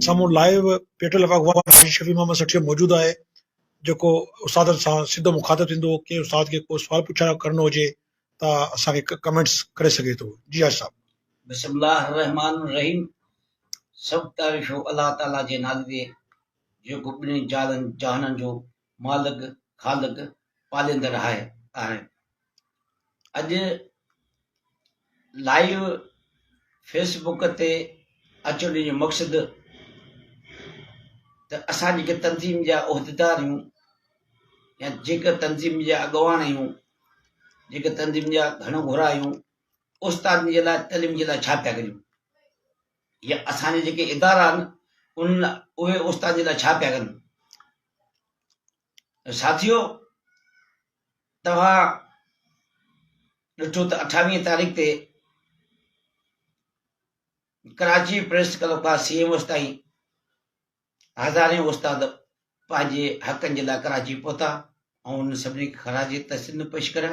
سامهون لائيو پيٽل آف اغوا ۾ حاجي شفيع محمد سٺيو موجود آهي جيڪو استادن سان سڌو مخاطب ٿيندو ڪنهن استاد کي ڪو سوال پڇڻ ڪرڻو هجي ته اسان کي ڪمينٽس ڪري سگهي ٿو جي حاجي صاحب. بسم الله الرحمٰن الرحيم سڀ تعريفون الله تعالي جي نالي جي جيڪو ٻنهي جهالن جهانن جو مالڪ، خالق، پاليندڙ آهي. اڄ لائيو فيس بوڪ تي اچڻ جو مقصد ته اسان جيڪي تنظيم جا عهديدار آهيون يا جيڪا تنظيم جا اڳواڻ آهيون جيڪا تنظيم جا گهڻو گهرا آهيون استاد جي لاء تعليم جي لاء ڇا پيا ڪريون يا اسان جا جيڪي ادارا آهن ان اهي استاد جي لاء ڇا پيا ڪن ساٿيو توهان ڏٺو ته اٺاويهين تاريخ تي ڪراچي پريس ڪلب کان سي ايم اوس تائين هزارين استاد پنهنجي حقن جي لاء ڪراچي پهتا ۽ انهن سڀني کي خراج تحسين پيش ڪريا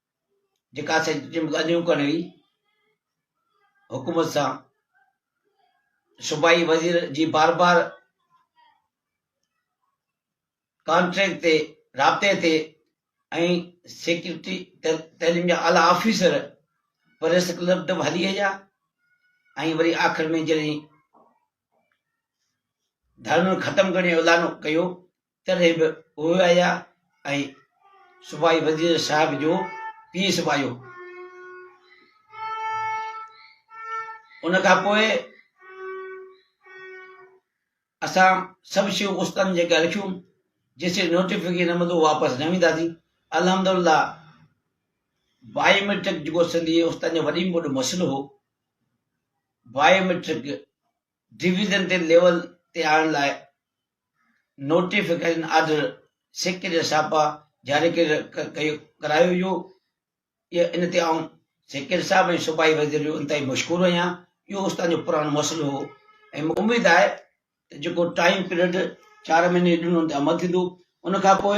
جيڪا سچ جون ڳالهيون ڪرڻ هئي حڪومت سان صوبائي وزير جي بار بار ڪانٽريڪٽ تي رابطي تي ۽ سيڪريٽري تعليم جا اعليٰ آفيسر پريس ڪلب ته هلي ويا ۽ وري آخر ۾ جڏهن ڌرڻو ختم ڪرڻ جو اعلان ڪيو تڏهن به اهي آيا ۽ سپاهي وزير صاحب جو پيء سپاهي هو. ان کان پوء اسان سڀ شيون استن جي اڳيان رکيون جيسين نوٽيفڪيشن نه ملندو واپس نه وينداسين الحمدالله بائيوميٽرڪ جيڪو سنڌي استاد جو وڏي ۾ وڏو مسئلو هو بائيوميٽرڪ ڊويزن تي ليول تي آڻڻ لاء نوٽيفڪيشن آرڊر سڪ جا ڇاپا جاري ڪرايو ويو ان تي آئون سيڪريٽري صاحب ۽ صوبائي وزير جو انتهائي مشڪور آهيان اهو استاد جو پراڻو مسئلو هو ۽ مون اميد آهي ته جيڪو ٽائيم پيريڊ چار مهيني ڏنو ان تي عمل ٿيندو ان کان پوء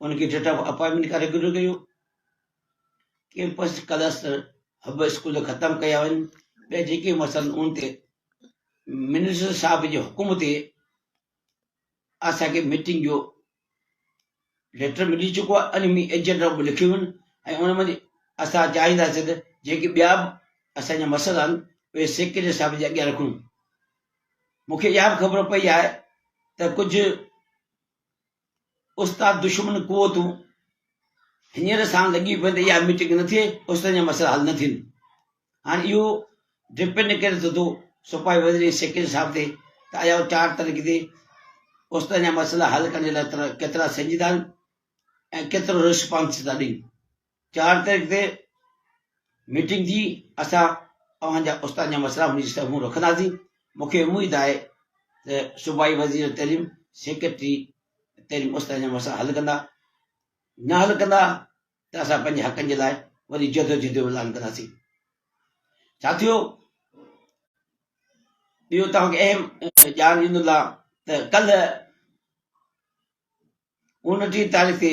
ان کي ڊيٽ آف اپائنٽمينٽ کان ريگيولر ڪيو. ڪيمپس ڪلسٽر هب اسڪول ختم ڪيا وڃن. ٻيا جيڪي مسئلا ان تي منسٽر صاحب جي حڪم تي اسان کي ميٽنگ جو ليٽر ملي چڪو آهي ان ۾ ايجنڊا به لکيو ويون ۽ ان ۾ اسان چاهينداسين ته جيڪي ٻيا به اسان جا مسئلا آهن اهي سيڪريٽري صاحب جي اڳيان رکون مون کي اها به خبر پئي آهي ته ڪجهه استاد دشمن قوتون هينئر سان لڳي پوين ته اها ميٽنگ نه ٿئي استاد جا مسئلا حل نه ٿين هاڻي اهو ڊپينڊ ڪري ٿو ٿو سپاهي وزير ۽ سيڪريٽري صاحب تي ته آيا هو چار تاريخ تي استاد جا مسئلا حل ڪرڻ جي لاء ڪيترا سنجيده آهن ۽ ڪيترو رسپانس ٿا ڏين چار تاريخ تي ميٽنگ ٿي اسان اوهان جا استادن جا مسئلا هن جي سامهون رکنداسين مون کي اميد آهي ته صوبائي وزير تعليم سيڪريٽري تعليم استادن جا مسئلا حل ڪندا نه حل ڪندا ته اسان پنهنجي حقن جي لاء وري جدوجهد جو اعلان ڪنداسين ساٿيو ٻيو توهان کي اهم ڄاڻ ڏيندو ته ڪلهه اڻٽيهه تاريخ تي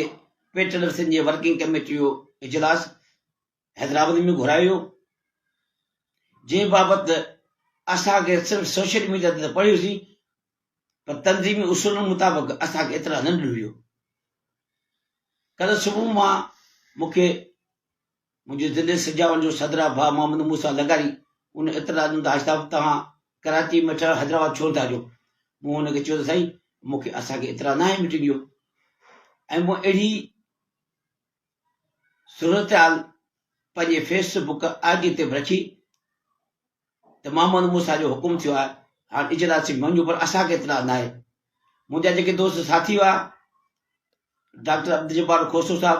پي ٽيلر سنڌ جي ورڪنگ ڪميٽي جو اجلاس حيدرآباد ۾ گهرايو ويو جنهن بابت اسان کي صرف سوشل ميڊيا تي پڙهيوسين پر تنظيمي اصولن مطابق اسان کي اطلاع نه ڏنو ويو ڪل صبح مان مون کي منهنجي ضلعي سجاول جو صدرا ڀاء محمد موسيٰ لغاري ان اعتراض ڏنو ته حاجي صاحب تهان ڪراچي ۾ ٺهيل حيدرآباد ڇو نٿا اچو؟ مون هن کي چيو ته سائين مون کي اسان کي اعتراض ناهي مٽينگ جو ۽ مون اهڙي صورتحال پنهنجي فيس بڪ آء جي تي به رکي ته محمد موسيٰ جو حڪم ٿيو آهي هاڻ اجلاسي مڃو پر اسان کي اعتراض ناهي منهنجا جيڪي دوست ساٿي هئا ڊاڪٽر عبدالجبار کوسو صاحب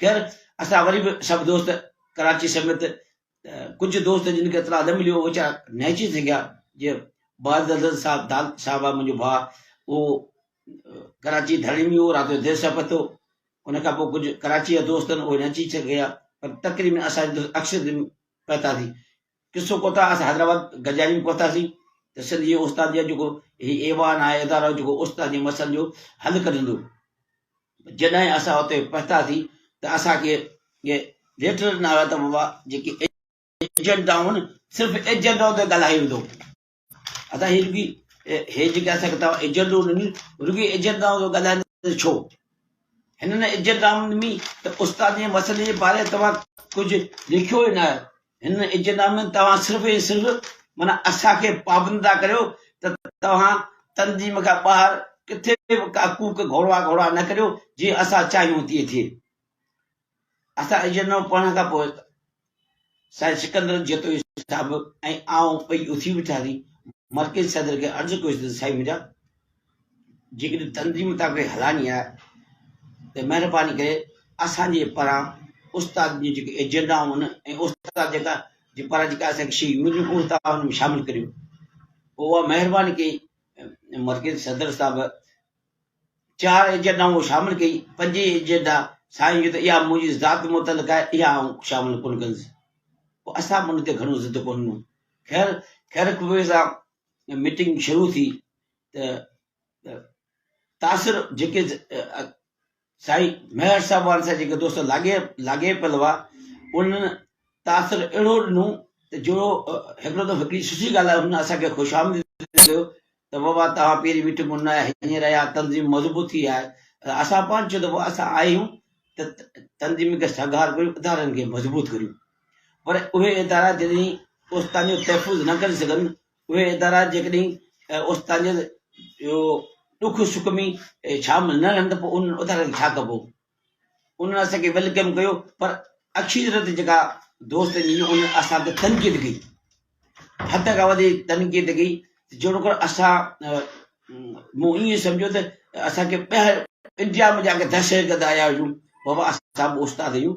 خير اسان وري به سڀ دوست ڪراچي سميت ته ڪجهه دوست جن کي اطلاع نه مليو اهي ويچارا نهچي سگهيا جي باعزت حضرت صاحب دال صاحب آهي منهنجو ڀاء اهو ڪراچي ڌرڻي ۾ هو رات جو دير سان پتو ان کان پوء ڪجهه ڪراچي جا دوست اهي نهچي سگهيا پر تقريبن اسان جي دوست اڪثر پهتاسي قصو ڪوتا اسان حيدرآباد گجاري ۾ پهتاسين ته سنڌ جي استاد جي جيڪو هي ايوان آهي ادارو جيڪو استاد جي مسئلن جو حل ڪڍندو جڏهن اسان اتي پهتاسين ته اسان کي ليٽر ڏنا ويا ته بابا جيڪي ايجنٽ آهن صرف ايجنٽ اتي ڳالهائي ويندو ادا هي رڳي هي جيڪي اسان کي توهان ايجنڊو ڏني رڳي ايجنڊائن جو ڳالهائيندا ته ڇو هنن ايجنڊائن ڏني ته استاد جي مسئلي جي باري توهان ڪجهه لکيو ئي نه هنن ايجنڊا ۾ توهان صرف ۽ صرف مانا اسان کي پابند ٿا ڪريو ته توهان تنظيم کان ٻاهر ڪٿي به ڪا ڪوڪ گهوڙا گهوڙا نه ڪريو جي اسان چاهيون تي ٿئي اسان اجرنامو پڙهڻ کان پوء سائين سڪندر جتوئي صاحب ۽ آئون ٻئي اٿي بيٺاسين. مرڪزي صدر کي عرض ڪيوسين ته سائين منهنجا جيڪڏهن تنظيم توهان کي هلائڻي آهي ته مهرباني ڪري اسان جي پران استاد جون جيڪي ايجنڊائون آهن ۽ استاد جيڪا جي پران جيڪا اسان کي شيون مليون اهي توهان ان ۾ شامل ڪريو. پوء اها مهرباني ڪئي مرڪزي صدر صاحب چار ايجنڊا هو شامل ڪئي، پنجين ايجنڊا سائين چيو ته اها منهنجي ذات متعلق آهي، اها آئون شامل ڪونه ڪندس. پوء اسان به ان تي گهڻو ضد ڪونه ڏنو. خير، خير خوبيء سان ميٽنگ شروع ٿي ته تاثر جيڪي سائين ميهڙ صاحب وارن سان جيڪي دوست لاڳي لاڳي پيل هئا انهن تاثر اهڙو ڏنو ته جو هڪڙو دفعو هڪڙي سٺي ڳالهه آهي هن اسان کي خوش آمديد ڪيو ته بابا توهان پهرين مٺ مون نه هينئر اها تنظيم مضبوط ٿي آهي اسان پان چيو ته بابا اسان آيا آهيون ته تنظيم کي سگهار ڪريون ادارن کي مضبوط ڪريون پر اهي ادارا جڏهن اوستانيو تحفظ نه ڪري سگهن اهي ادارا جيڪڏهن اوچتا جي اهو ڏک سک ۾ شامل نه رهن ته پوء انهن ادارن کي ڇا ڪبو؟ انهن اسان کي ويلڪم ڪيو پر اڪثريت جيڪا دوست جي انهن اسان تي تنقيد ڪئي حد کان وڌيڪ تنقيد ڪئي جوڙڪر اسان مون ائين سمجهيو ته اسان کي ٻاهر انڊيا ۾ جا ڪي دهشت گرد آيا هجون بابا اسان به استاد آهيون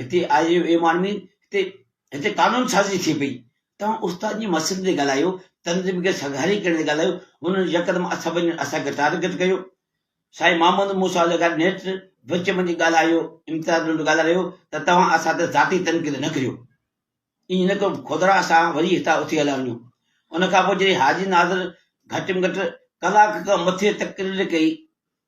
هتي آء يو اي مان ۾ هتي هتي قانون سازي ٿئي پئي توهان استاد جي مسئلن تي ڳالهايو تنظيم کي سگهاري ڪرڻ تي ڳالهايو هنن يڪدم اسان وڃي اسان کي ٽارگيٽ ڪيو سائين محمد موسيٰ لغاري نيٺ وچ وڃي ڳالهايو امتياز لنڊ ڳالهائي رهيو ته توهان اسان تي ذاتي تنقيد نه ڪريو ائين نه ڪرو خدرا اسان وري هتان اٿي هليا وڃو ان کان پوء جڏهن حاجي ناظر گهٽ ۾ گهٽ ڪلاڪ کان مٿي تقرير ڪئي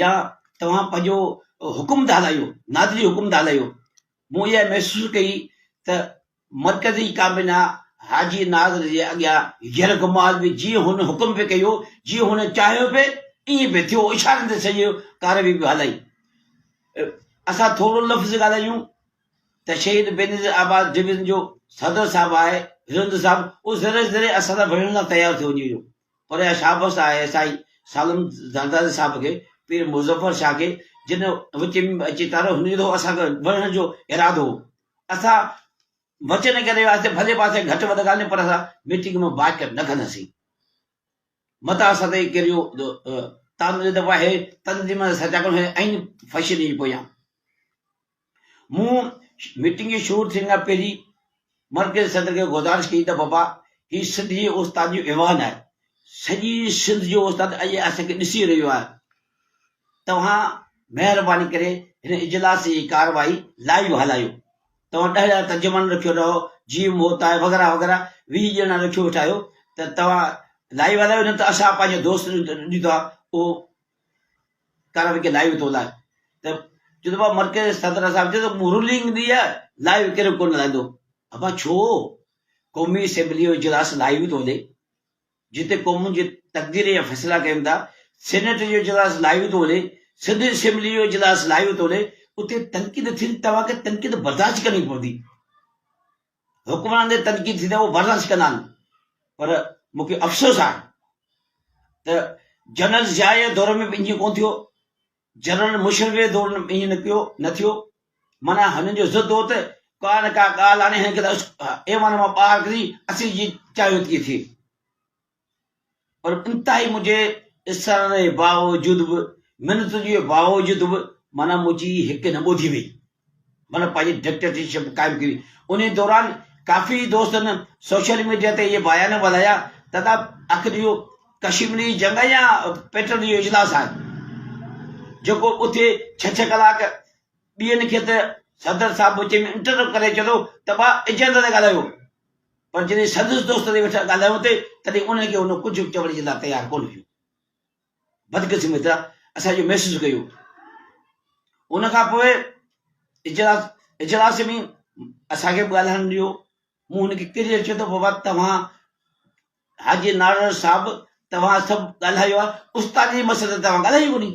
يا توهان پنهنجو حڪم ٿا هلايو، نادري حڪم ٿا هلايو. مون اها محسوس ڪئي ته مرڪزي ڪابينا حاجي نادر جي اڳيان ير غماز به جيئن هن حڪم پئي ڪيو، جيئن هن چاهيو پئي ائين پئي ٿيو، اشارن تي سڄي ڪاروي پئي هلائي. اسان ٿورو لفظ ڳالهايون ته شهيد بينظير آباد ڊويزن جو صدر صاحب آهي، هرندو صاحب، اهو ذري ذري اسان سان وڙهڻ لاء تيار ٿيو وڃي ويو. پر اها شابس آهي سائين سالم زرداري صاحب کي، پير مظفر شاهه کي، جن وچ ۾ به اچي تارو هنري ٿو اسان کي وڙهڻ جو ارادو هو. اسان وچن ڪري وياسين ڀلي پاسي گهٽ وڌ ڳالهيون پر اسان ميٽنگ مان بائڪٽ نه ڪنداسين. متان اسان تي ڪهڙيون تانو ڏيندو پيا هي تنظيمن سچاڪن هي ائين فشرين جي پويان. مون ميٽنگ جي شروع ٿيڻ کان پهرين مرڪزي صدر کي گذارش ڪئي ته بابا هي سنڌ جي استاد جو ايوان آهي، سڄي سنڌ جو استاد اڄ اسان کي ڏسي رهيو آهي، توهان مهرباني ڪري هن اجلاس جي ڪارروائي لائيو هلايو، توهان ڏهه ڄڻا ترجمان رکيو رهو، جي ايم هوت آهي وغيره وغيره ويهه ڄڻا رکيو ويٺا آهيو ته توهان لائيو هلايو نه ته اسان پنهنجو دوست ڏيندو آهي اهو ڪرڻ کي لائيو ٿو لاء ته جذبا مرڪز صدر صاحب چيو ته مرلنگ ڏي لائيو ڪير ڪونه لائندو ابا ڇو قومي اسيمبلي جو اجلاس لائيو ٿو هلي جتي قومن جي تقدير جا فيصلا ڪيون ٿا سينيٽ جو اجلاس لائيو ٿو هلي سنڌ اسيمبلي جو اجلاس لائيو ٿو هلي اتي تنقيد ٿيندي توهان کي تنقيد برداشت ڪرڻي پوندي حڪمران تي تنقيد ٿيندي اهو برداشت ڪندا نه پر مون کي افسوس آهي ته جنرل ضياء جي دور ۾ به ائين ڪونه ٿيو جنرل مشرف جي دور ۾ ائين نه ڪيو نه ٿيو معنيٰ هنن جو ضد هو ته ڪا نه ڪا ڳالهه آڻي هن کي ايوان مان ٻاهر ڪري اسين جي چاهيو ٿي ٿئي پر انتهائي منهنجي اصرارن جي باوجود به، منتن جي باوجود به معنيٰ منهنجي هڪ نه ٻڌي وئي. مطلب پنهنجي ڊڪٽيٽرشپ قائم ڪئي وئي. انهيء دوران ڪافي دوستن سوشل ميڊيا تي اهي بيان وڌايا ته دا اک ڏيئو ڪشمري جنگ يا پيٽرن جو اجلاس آهي، جيڪو اٿي ڇهه ڇهه ڪلاڪ ڏيئن کي ته صدر صاحب وچ ۾ انٽرپٽ ڪري چوي ٿو ته ڀا اجنڊا تي ڳالهايو. پر جڏهن سندس دوست تي ويٺا ڳالهايون ٿي، تڏهن انهن کي هن ڪجهه به چوڻ جي لاء تيار ڪونه ٿيون. بدقسمتي طرح اسان اهو محسوس ڪيو. ان کان پوء اجلاس اجلاس ۾ اسان کي به ڳالهائڻ نه ڏنو. مون هن کي ڪيتري چيو ته بابا توهان حاجي نارڙ صاحب توهان سڀ ڳالهايو آهي، استاد جي مسئلي تي توهان ڳالهايو ڪونهي.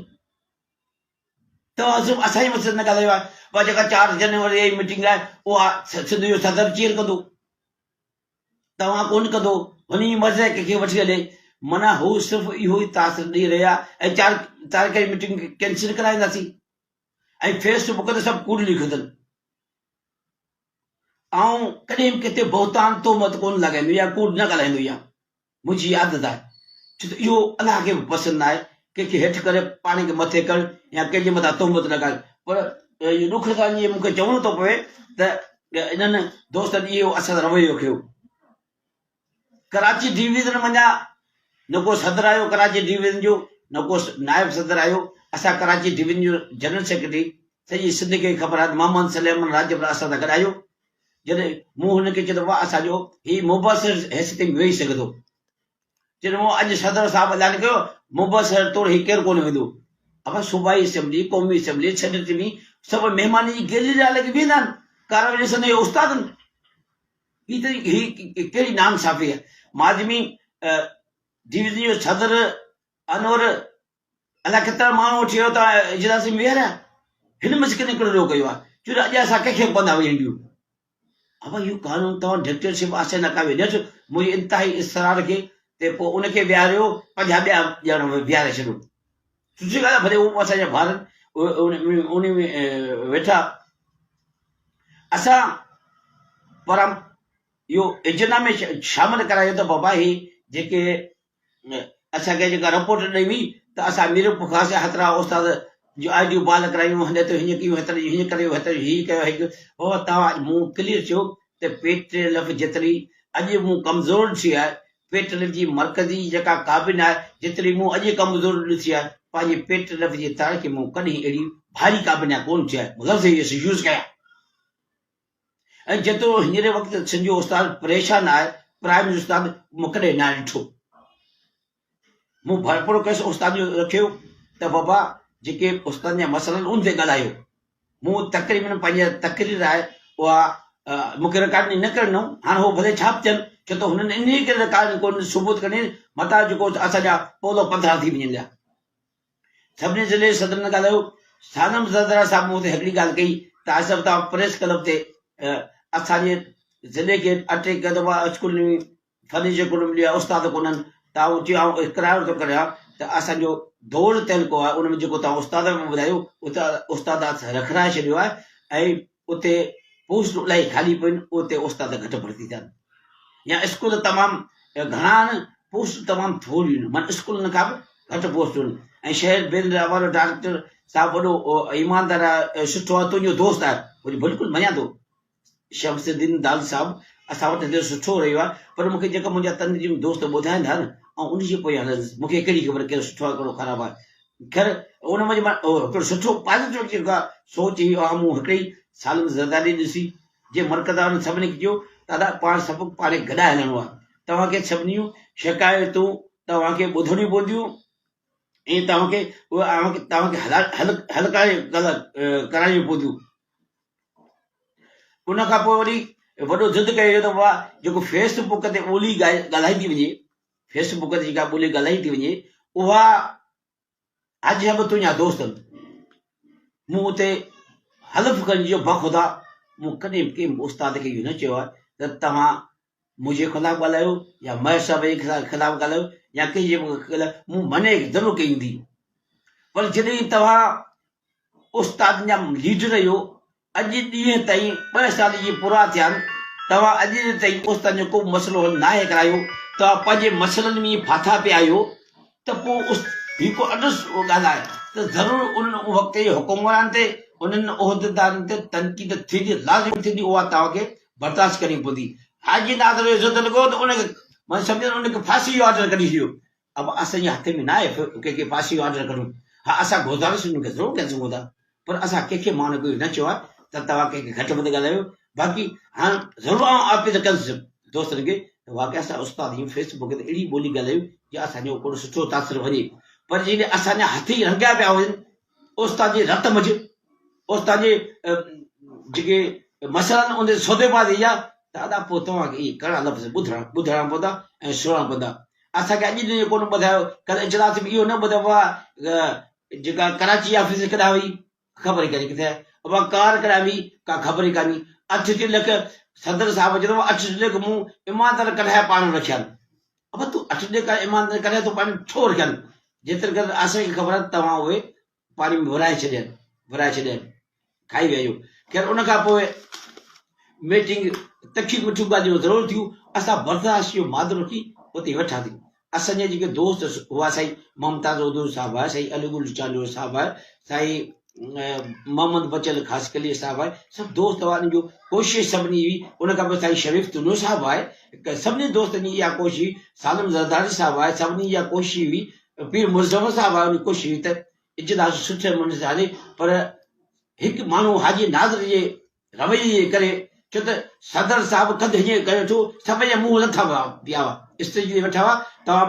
توازو اسان ئي مقصد نه ڳالهايو آهي اها جيڪا چار جنوري جي ميٽنگ آهي اها سنڌ جو صدر چيئر ڪندو توهان ڪون ڪندو هن جي مرض ڪنهن کي وٺي هلي منا هو صرف اهو ئي تاثر ڏيئي رهيا ۽ چار تاريخ جي ميٽنگ ڪينسل ڪرائينداسين ۽ فيس بڪ تي سڀ ڪوڙ لکندن آئون ڪڏهن به ڪٿي بهتان تومت ڪون لڳائيندو يا ڪوڙ نه ڳالهائيندو يا منهنجي عادت آهي ڇو ته اهو الله کي به پسند نه آهي ڪنهن کي هيٺ ڪري پاڻ کي مٿي ڪرڻ يا ڪنهن جي مٿان تهمت لڳائڻ پر اهو ڏک ٿو ٿئي مون کي چوڻو ٿو پوي ته انهن دوستن اهو اسان سان رويو رکيو ڪراچي ڊويزن منجهان نه ڪو صدر آيو ڪراچي ڊويزن جو نه ڪو نائب صدر آيو اسان ڪراچي ڊويزن جو جنرل سيڪريٽري سڄي سنڌ کي خبر آهي محمد سليمان راڄپر اسان سان گڏ آيو جڏهن مون هن کي چيو ته واهه اسان جو هي مبصر حيثيت ۾ ويهي سگهندو؟ جڏهن مون اڄ صدر صاحب اعلان ڪيو مبصر طور هي ڪير ڪونه ويندو؟ اهو صوبائي اسيمبلي، قومي اسيمبلي، سينيٽ ۾ سڀ مهمانن جي گيلري لاء لڳي بيهندا آهن، ڪارروائي ڏسن ته اهي استاد آهن. هي ته هي ڪهڙي ناانصافي آهي. ماضي ۾ ڊويزن جو صدر انور الاء ڪيترا ماڻهو اٿي ويا ته اجلاس ۾ ويهاريا هن مس ڪنهن ڪڙو ڪيو آهي چون اڄ اسان ڪنهن کي به پوندا وڃي ڏيون ابا اهو قانون توهان ڊڪٽيٽرشپ آسي نه ڪا وينس منهنجي انتهائي اصرار کي ته پوء ان کي ويهاريو پنجا ٻيا ڄاڻ ويهاري ڇڏيو سچي ڳالهه آهي ڀلي هو اسان جا ڀار ان ۾ ويٺا اسان پر اهو اجنا ۾ شامل ڪرايو ته بابا هي جيڪي ۾ اسان کي جيڪا رپورٽ ڏني وئي ته اسان ميرو پکرا سي هترا استاد جو آء ڊيو بال ڪرايون هن ته هيئن ڪيون هتر هيئن ڪريو هتر هي ڪيو هي ڪيو بابا توهان اڄ مون ڪليئر چيو ته پيٽري لف جتري اڄ مون ڪمزور ٿي آهي پيٽ لف جي مرڪزي جيڪا ڪابين آهي جتري مون اڄ ڪمزور ڏسي آهي پنهنجي پيٽ لف جي تاريخ مون ڪڏهن اهڙي ڀاري ڪابين ڪون ٿي آهي لفظ يوز ڪيا ۽ جيترو هينئري وقت سنڌ جو استاد پريشان آهي، پرائم استاد مون ڪڏهن ناهي ڏٺو. مون ڀرپورو ڪيس استاد جو رکيو ته بابا جيڪي استادن جا مسئلا آهن ان تي ڳالهايو. مون تقريبن پنهنجي تقرير آهي اها مون کي رڪارڊنگ نه ڪرڻ ڏنو، هاڻ هو ڀلي ڇا به ٿين، ڇو ته هنن انهيء ڪري رڪارڊنگ ڪونه ثبوت ڪرڻي متان جيڪو اسان جا پولا پڌرا ٿي وڃن ڏيا. سڀني ضلعي صدرن سان ڳالهايو، سالم زردارا صاحب مون تي هڪڙي ڳالهه ڪئي ته آصف تان پريس ڪلب تي اسان جي ضلعي کي اٽي ڪيو ته اها اسڪول نوي فرنيچر ڪونه مليو آهي، استاد ڪونهن ته آئون چيو آئون اقرار ٿو ڪريان ته اسان جو دول تعلقو آهي ان ۾ جيڪو توهان استاد ۾ ٻڌايو اتي استاد رکرائي ڇڏيو آهي ۽ اتي پوسٽون الاهي خالي پين اتي استاد گهٽ ڀرتي ٿيا آهن يا اسڪول تمام گهڻا آهن پوسٽون تمام ٿوريون آهن معنيٰ اسڪولن کان به گهٽ پوسٽون آهن ۽ شهر بيل جا احوال ڊائريڪٽر صاحب وڏو ايماندار آهي سٺو آهي تنهنجو دوست آهي وڃي بلڪل مڃان ٿو شمس الدين داد صاحب اسان وٽ هتي سٺو رهيو آهي پر مونکي جيڪا منهنجا تنظيم دوست ٻڌائين ٿا نه آئون ان جي پويان هلندس مونکي ڪهڙي خبر ڪير سٺو آهي ڪهڙو خراب آهي خير ان منجھ مان هڪڙو سٺو پازيٽو جيڪا سوچ هي اها مون هڪڙي ئي سال ۾ زرداري ڏسي جنهن مرڪز وارن سڀني کي چيو دادا پاڻ سڀ پاڻي گڏا هلڻو آهي توهان کي سڀنيون شڪايتون توهان کي ٻڌڻيون پونديون ۽ توهان کي اوهان کي توهان کي حل حل ڪرايون پونديون ان کان پوء وري وڏو ضد ڪيو ويو ته بابا جيڪو فيس بڪ تي ٻولي ڳالهائي ٿي وڃي فيس بڪ تي جيڪا ٻولي ڳالهائي ٿي وڃي اها اڄ به تنهنجا دوست آهن مون اتي حلف ڪرڻ جو بخدا مون ڪڏهن به ڪنهن استاد کي اهو نه چيو آهي ته توهان منهنجي خلاف ڳالهايو يا مهر صاحب جي خلاف ڳالهايو يا ڪنهن جي مون مني ضرور ڪئي هوندي پر جڏهن توهان استادن جا ليڊر اهو اڄ ڏينهن تائين ٻه سال جي پورا ٿيا آهن توهان اڄ ڏينهن تائين استادن جو ڪو مسئلو حل ناهي ڪرايو توهان پنهنجي مسئلن ۾ ڦاٿا پيا آهيو ته پوء هي ڪو اڏس ڳالهه آهي ته ضرور ان وقت جي حڪمران تي انهن عهديدارن تي تنقيد ٿيندي لازمي ٿيندي اها توهان کي برداشت ڪرڻي پوندي حاجي ناصر جو عزت لڳو ته ان کي مان سمجهان ان کي ڦاسي جو آرڊر ڪڍي ڇڏيو اب اسان جي هٿ ۾ ناهي ته ڪنهن کي ڦاسي جو آرڊر ڪريون. ها اسان گوزارش انهن کي ضرور ڪري سگهون ٿا پر اسان ڪنهن کي ماڻهن کي اهو نه چيو آهي ته توهان ڪنهن کي گهٽ وڌ ڳالهايو باقي هاڻ ضرور آئون آپيل ڪندس دوستن کي ته واقعي اسان استاد ايئن فيس بڪ تي اهڙي ٻولي ڳالهايون جي اسان جو ڪوڙو سٺو تاثر وڃي پر جيڪڏهن اسان جا هٿ ئي رنگيا پيا هجن اوستاد جي رت مجھ، اوستاد جي جيڪي مسئلا آهن ان تي سودي بازي اها ته ادا پوء توهان کي اهي ڪڙا لفظ ٻڌڻا ٻڌائڻا پوندا ۽ سڻڻا پوندا. اسان کي اڄ تائين اهو ڪونه ٻڌايو، ڪل اجلاس ۾ اهو نه ٻڌو اها جيڪا ڪراچي آفيس ڪڏهن وئي خبر ئي ڪانهي ڪٿي آهي، اها ڪار ڪڏهن وئي ڪا خبر ئي ڪانهي، اٺ ٽي لک صدر صاحب چيو اٿو اٺ ٽي لک مون ايماندار ڪڍائي پاڻ رکيا آهن. ابا تون اٺ ڏيک آ ايمان تنهنجي ڪلهي تون پاڻي ڇو رکين جيتري قدر آسائين کي خبر آهي ته توهان اهي پاڻي ۾ ورهائي ڇڏين ورهائي ڇڏين کائي ويا آهيو خير ان کان پوء ميٽنگ تکيون مٺيون ڳالهيون ضرور ٿيون اسان برداشت جو مادو رکي اتي ويٺاسين اسان جا جيڪي دوست هئا سائين ممتاز عدول صاحب آهي سائين علي گل چانڊيو صاحب آهي سائين محمد بچل خاصخلي صاحب آهي سڀ دوست وارن جو ڪوشش سڀني هئي ان کان پوء سائين شريف تنو صاحب آهي سڀني دوستن جي اها ڪوشش هئي سالم زرداري صاحب آهي سڀني جي اها ڪوشش هئي پير مرزفر صاحب آهي ان ڪوشش هئي ته اجلاس سٺي منظر هلي پر هڪ ماڻهو حاجي ناظر جي رويي جي ڪري، ڇو ته صدر صاحب قد هيئن ڪيو ٿو، سڀ جا منهن لٿا ويا پيا هئا، اسٽيج تي ويٺا هئا، توهان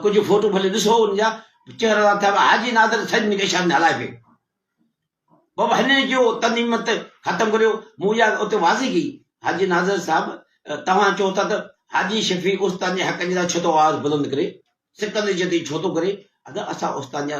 ڪجهه فوٽو ڀلي ڏسو ان جا، چهرا لٿا ويا، حاجي نادر سڄي نگهشان ۾ هلائي پيو. بابا هنن جو تنظيمت ختم ڪريو، مون اها ڳالهه اتي واضح ڪئي، حاجي نادر صاحب توهان چئو ٿا ته حاجي شفيق استان جي حقن جي لاء ڇو ٿو آواز بلند ڪري، سڪندر جتي ڇو ٿو ڪري، ادا اسان استان جا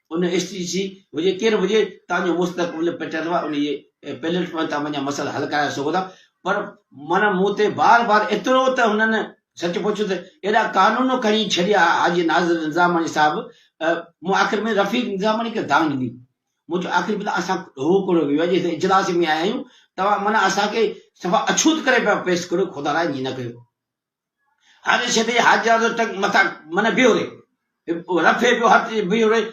ان اشتي شي هجي ڪير به هجي تان جو مستقبل پٽيل وا انهي پليٽ فارم تان وڃا مسئلا حل ڪرائي سگهو ٿا پر من مون تي بار بار ايترو ته هنن سچ پوڇو ته ايڏا قانون کڻي ڇڏيا حاجي ناظر نظاماڻي صاحب مون آخر ۾ رفيق نظاماڻي کي دانگ ڏني مون چيو آخر ۾ اسان هو ڪوڙو ويو آهي جي اجلاس ۾ آيا آهيون توهان من اسان کي صفا اڇوت ڪري پيا پيش ڪريو خدا لاء ائين نه ڪيو هر شدي حاجيانزو ٽنگ مٿان من بيهو رهي. رفي پيو هٿ جي بيهو رهي.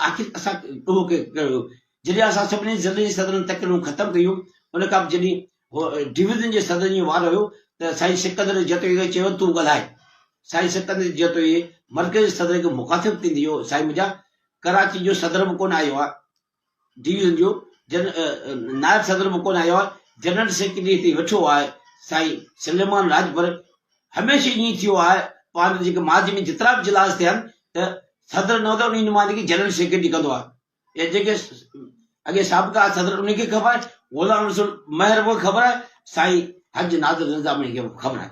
آخر اسان اهو ڪيو. جڏهن اسان سڀني ضلعن جي صدرن تقريرون ختم ڪيون. ان کان پوء جڏهن ڊويزن جي صدرن جو وارو هيو ته سائين سڪندر جتوئي کي چيو تون ڳالهاء. سائين سڪندر جتوئي مرڪزي صدر کي مخاطب ٿيندي چيو سائين منهنجا ڪراچي جو صدر به ڪونه آيو آ. ڊي ويزن جو نائب صدر به ڪونه آيو آهي، جنرل سيڪريٽري هتي ويٺو آهي، سائين سليمان راڄپر هميشه ائين ئي ٿيو آهي، پاڻ جيڪي ماضي ۾ جيترا به اجلاس ٿيا آهن ته صدر نه هوندو آهي، انهي نمائندگي جنرل سيڪريٽري ڪندو آهي يا جيڪي اڳي سابقا صدر انهي کي خبر آهي، غلام رسول مهر به خبر آهي، سائين حج نادر نظاماڻي کي به خبر آهي،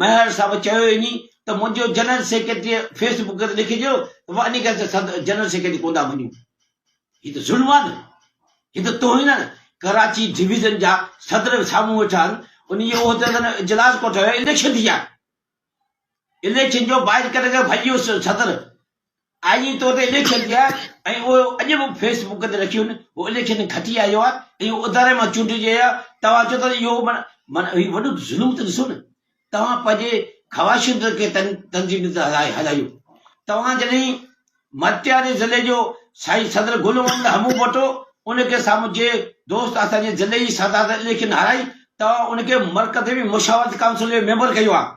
ميهر صاحب چيو وڃي ته منهنجو جنرل سيڪريٽريء فيس بڪ تي لکي ڇڏيو ته مان انهيء ڪري ته جنرل سيڪريٽري ڪون ٿا مڃون. هي ته ظلم آهي نه. هي ته توهين آهي نه. ڪراچي ڊويزن جا صدر به سامهون ويٺا آهن. انهيء جي عهديدارن اجلاس ڪوٺايو آهي. اليڪشن ٿي آهي. اليڪشن جو بائيڪاٽ ڪري ڀڄي ويو صدر. آء جي طور تي اليڪشن ٿيا ۽ اهو اڄ به فيس بڪ تي رکيون هو اليڪشن کٽي آيو آهي ۽ اهو اداري مان چونڊجي آيو آهي توهان چئو ٿا ته اهو معنيٰ معنيٰ هي وڏو ظلم ته ڏسو نه توهان پنهنجي خواهشن تي ڪي تن تنظيمون ٿا هلايو هلايو توهان جڏهن مٽياري ضلعي جو سائين صدر گل محمد همون ڀٽو ان کي سامهون جي دوست اسان جي ضلعي جي سادات اليڪشن هارائي توهان ان کي مرڪزي ۾ مشاورت ڪائونسل جو ميمبر ڪيو آهي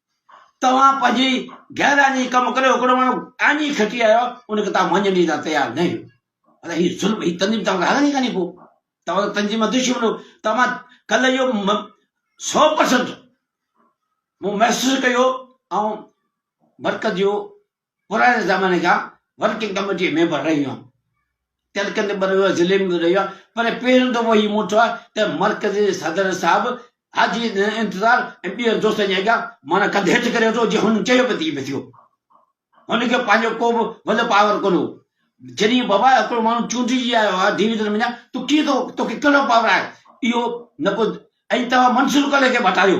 توهان پنهنجي گهران جي ڪم ڪريو هڪڙو ماڻهو آڃي کٽي آيو ان کي توهان مڃڻ جي لا تيار نه هيو ادا هي ظلم هي تنظيم توهان هلن ئي ڪاني پو توهان ته تنظيم مان دشمن هو توهان ڪل اهو سو پرسنٽ مون محسوس ڪيو ۽ مرڪز جو پراڻي زماني کان ورڪنگ ڪميٽي ميمبر رهي هيم تلڪندي به رهيو ضلعي ۾ به رهيو پر پهريون دفعو هي مون ٺو ته مرڪزي صدر صاحب حاجي انتظار ۽ ٻين دوستن جي اڳيان مانا ڪنڌ هيٺ ڪري وٺو جي هن چيو به تي به ٿيو هن کي پنهنجو ڪو به ول پاور ڪونه هو جڏهن بابا هڪڙو ماڻهو چونڊجي آيو آ ڊويزن ۾ تو ڪي تو توکي ڪهڙو پاور آهي اهو نه ڪو ۽ توهان منصور ڪلي کي مٽايو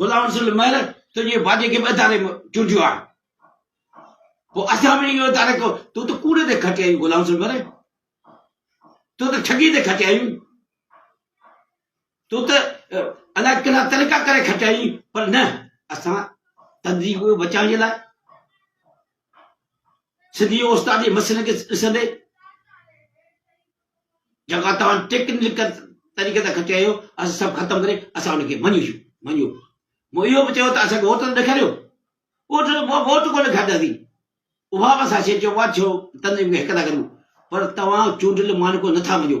غلام رسول مهر تنهنجي واڄي کي به اداري ۾ چونڊيو آهي. پوء اسان به اهو اداري ڪو تون ته ڪوڙي تي کٽي آيون غلام رسول مهر. تون ته ٺڳي تي کٽي آيون. تون ته الاء ڪهڙا طريقا ڪري کٽي آيون پر نه اسان تنظيم کي بچائڻ جي لاء سنڌي اوستا جي مسئلن کي ڏسندي جيڪا توهان ٽيڪنيڪل طريقي تان کٽي آيو اسان سڀ ختم ڪري اسان ان کي مڃيشون مڃيو مون اهو به چيو ته اسان کي ووٽ ته ڏيکاريو ووٽ ووٽ ڪو ڏيکارينداسي اها بس اسان چيو وا ڇو تنظيم کي هڪ ٿا ڪريون پر توهان چونڊيل مانڪو نٿا مڃيو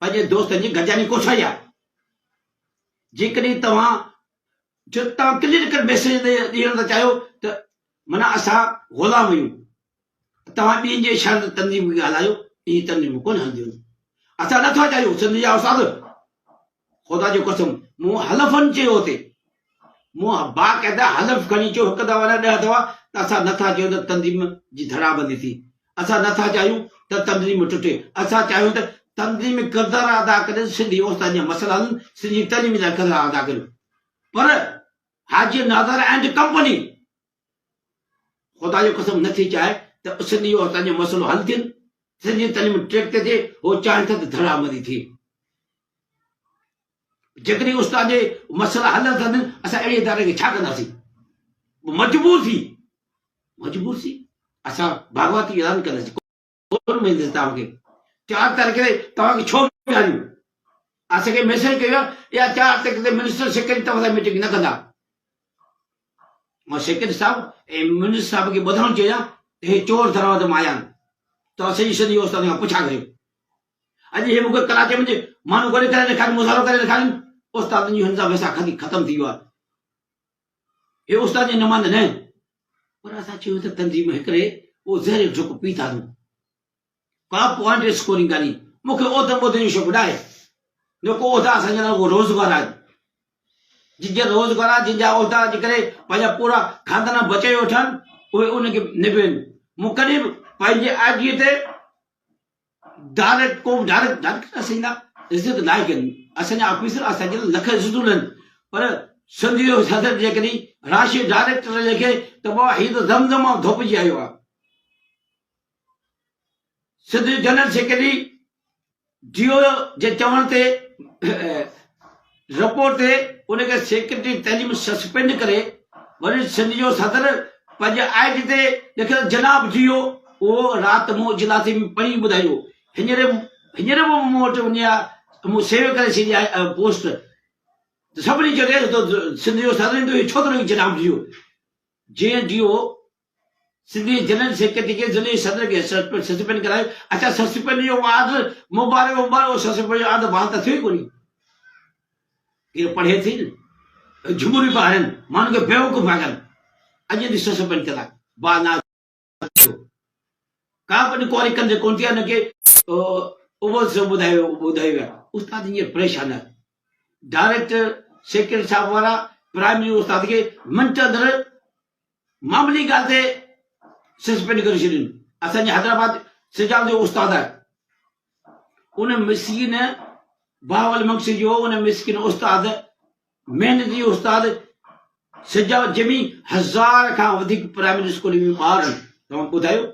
پنهنجي دوستن جي گڏجاڻي ڪوٺائي آهي. جيڪڏهن توهان جو توهان ڪليرڪٽ ميسيج ڏيڻ ٿا چاهيو ته معنيٰ اسان غلام آهيون، توهان ٻين جي اشارن تي تنظيمون کي هلايو، اهي تنظيمون ڪونه هلنديون، اسان نٿا چاهيون، سنڌ جا استاد خدا جو قسم مون حلفن چيو ته مون باقاعده حلف کڻي چيو، هڪ دفعا نه ڏهه دفعا، ته اسان نه ٿا چاهيون ته تنظيم جي ڌڙابندي ٿئي، اسان نه ٿا چاهيون ته تنظيم ٽٽي، اسان چاهيون ته تنظيم ڪردار ادا ڪري سنڌي استادن جا مسئلا حل ڪن، سنڌي تعليم لاء ڪردار ادا ڪن پر حاجي نادر ائنڊ ڪمپني خدا جو قسم نه ٿي چاهي ته سنڌي عورتن جو مسئلو حل ٿين سنڌي تعليم ٽريڪ تي ٿئي هو چاهين ٿا ته ڌڙا مري ٿي جيڪڏهن استاد جي مسئلا حل ٿا ٿين اسان اهڙي اداري کي ڇا ڪنداسين مجبور ٿي مجبور ٿي اسان باغواتي اعلان ڪنداسين ڪونه ملندس توهان کي چار تاريخ تي توهان کي ڇو ويهاريون اسان کي ميسج ڪيو آهي اها چار تاريخ تي منسٽر سيڪريٽري توهان سان ميٽنگ نه ڪندا مان سيڪريٽري صاحب ۽ منسٽر صاحب کي ٻڌڻو چاهيان ته هي چور دروازه مان آيا آهن توهان سڄي سنڌ جو استاد کان پڇا ڪريو اڄ هي مونکي ڪراچي ۾ ماڻهو ڳڙي ڪري ڏيکاري مظاهرو ڪري ڏيکارين استادن جون هن سان ويسا ختم ٿي ويو آهي هي استاد جي نمائنده نه آهن، پر اسان چيو ته تنظيم هڪڙي اهو زهريل ڍڪ پي ٿا ڏون. ڪا پوائنٽ اسڪورنگ ڪانهي، مون کي عهدن بهدن جو شوق نه آهي، نه ڪو عهدا اسان جي لاء اهو روزگار آهن، جن جا روزگار، جن جا عهدا جي ڪري پنهنجا پورا خاندان بچائي وٺن، اهي ان کي نبين، مون ڪڏهن به پنهنجي آجيء تي ڊائريڪٽ ڪوبه ڊائريڪٽ ڊائريڪٽ اسين جا عزت ناهي ڪن اسان جا آفيسر اسان کي لک عزتون ڏين پر سنڌ جو صدر جيڪڏهن راشي ڊائريڪٽر لکي ته بابا هي ته دم دم مان ڌوپجي آيو آهي سنڌ جو جنرل سيڪريٽري ڊيو جي چوڻ تي رپورٽ تي ان کي سيڪريٽري تعليم سسپينڊ ڪري وري سنڌ جو صدر پنهنجي آء جي تي لکيل جناب جي هو اهو رات مون اجلاسي ۾ پڙهي ٻڌايو هينئر هينئر به مون وٽ وڃي آ ته مون سيو ڪري ڇڏي آهي اهو پوسٽ ته سڀني چيو ڏيک تو سنڌ جو صدر اهو ڇو ٿو لکي جناب جي هو جنهن جي هو سنڌي جنرل سيڪريٽري کي ضلعي صدر کي سسپينڊ ڪرايو اچا سسپينڊ جو وعد مبارڪ مبارڪ هو سسپينڊ جو عاد بحال ته ٿيو ئي ڪونهي ڪير پڙهي ٿي نه جمهوري پا هرن ماڻهن کي بيوقوف پا ڪن اڄ ٿي سسپينڊ ڪرا با نا ڪا پن ڪوري ڪن جي ڪون ٿي ان کي اوبل سو ٻڌايو ٻڌايو استاد ائين پريشان آهي ڊائريڪٽر سيڪريٽري صاحب وارا پرائمري استاد کي منٽ اندر معمولي ڳالهه تي سسپينڊ ڪري ڇڏين. اسان جي حيدرآباد سجاو جو استاد آهي. ان مسڪين بهاول مگسي جو ان مسڪين استاد محنتي استاد سجاو جمي هزار کان وڌيڪ پرائمري اسڪول ۾ ٻار آهن توهان ٻڌايو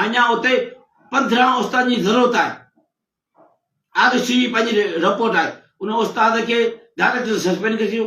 اڃا اتي پندرهن استاد جي ضرورت آهي آر سي پنهنجي رپورٽ آهي ان استاد کي ڊائريڪٽر سسپينڊ ڪري ڇڏيو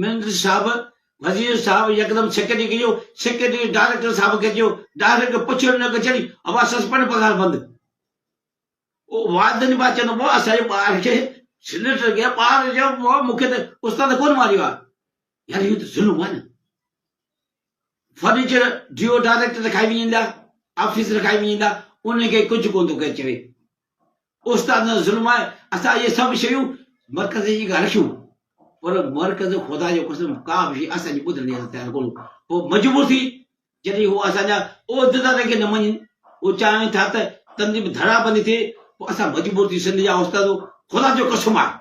مينڊر صاحب، وزير صاحب يڪدم سيڪريٽري کي چيو، سيڪريٽري ڊائريڪٽر صاحب کي چيو، ڊائريڪٽر کي پڇيو نڪ چڙهي، اوهان سسپينڊ پگهار بند. او وادن با چيو، مون اسان جي ٻار کي سينيٽر کي ٻار چيو، مون کي ته استاد ڪونه ماريو آهي. يار اهو ته ظلم آهي نه. فرنيچر ڊيو ڊائريڪٽ رکائي وڃيندا آفيس رکائي وڃيندا انهن کي ڪجهه ڪونه ٿو ڪير چوي استاد نه ظلم آهي اسان اهي سڀ شيون مرڪز جي گهر رکيون پر مرڪز خدا جو قسم ڪا به شي اسان جي ٻڌڻ جي تيار ڪونه هو مجبور ٿي جڏهن هو اسان جا عہديدارن کي نه مڃن هو چاهين ٿا ته تنظيم ڌڙا بندي ٿئي پوء اسان مجبور ٿي سنڌ جا استاد خدا جو قسم آهي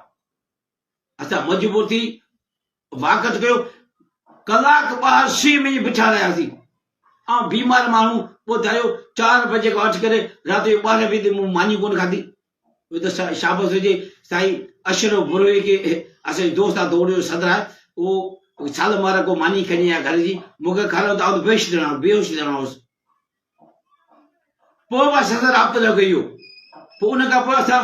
اسان مجبور ٿي واڪٿ ڪيو. ڪلاڪ ٻاهر سيء ۾ ئي بيٺا رهياسين. آئون بيمار ماڻهو، ٻڌايو چار بجي کان وٺي ڪري رات جو ٻارهن بجي تائين مون ماني ڪونه کاڌي. اهو ته شابس هجي سائين اشرف بروهي کي، اسان جو دوست آهي دوڙيو صدر آهي، اهو سال مهر ڪو ماني کڻي آيو گهر جي، مون کي کاريو ته آئون بيهوش ڄڻا هوس، بيهوش ڄڻا هوس. پوء به اسان سان رابطو نه ڪيو. پوء ان کان پوء اسان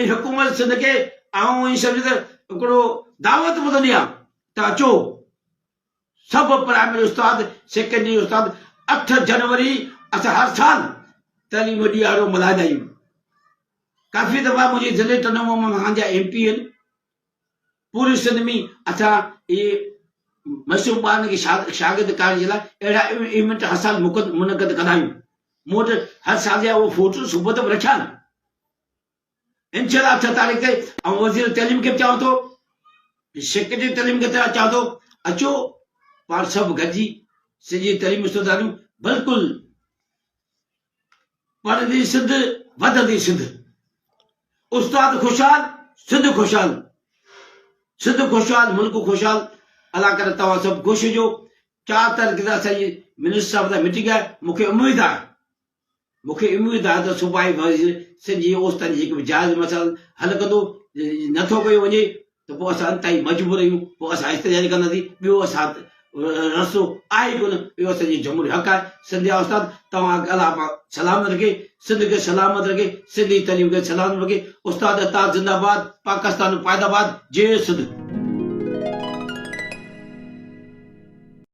۽ حڪومت سنڌ کي آئون ائين سمجهان ته هڪڙو دعوت ٻڌندي آهيان ته اچو سڀ پرائمري استاد سيڪنڊري استاد اٺ جنوري اسان هر سال تعليم ڏيهارو ملهائيندا آهيون ڪافي دفعا منهنجي ضلعي ٽنڊو مان مهانجا ايم پي اين پوري سنڌ ۾ اٿان اهي معصوم ٻارن کي شاگرد ڪرڻ جي لاء اهڙا ايونٽ هر سال منعقد ڪندا آهيون مون وٽ هر سال جا اهي فوٽو صحبت به رکيا آهن انشاءالله اٺ تاريخ تي آئون وزير تعليم کي به چوان ٿو سيڪريٽري تعليم کي چوان ٿو اچو پاڻ سڀ گڏجي سڄي تعليم استاداريون بلڪل پڙهندي سنڌ، وڌندي سنڌ. استاد خوشحال، سنڌ خوشحال. سنڌ خوشحال، ملڪ خوشحال. الله ڪري توهان سڀ خوش هجو. چار تاريخ تي اسان جي منسٽر صاحب سان ميٽنگ آهي، مون کي اميد آهي مون کي اميد آهي ته صوبائي وزير سنڌ جي اوستن جي هڪ به جائز مسئلا حل ڪندو، جيڪي نٿو ڪيو وڃي ته پوء اسان انتهائي مجبور آهيون، پوء اسان احتجاج ڪنداسين، ٻيو اسان وٽ رستو آهي ئي ڪونه، اهو اسان جو جمهوري حق آهي. سنڌ جا استاد توهان اڳ الله پاڪ سلامت رکي، سنڌ کي سلامت رکي، سنڌي تعليم کي سلامت رکي، استاد اتحاد زنده باد، پاڪستان پائداباد، جئي سنڌ.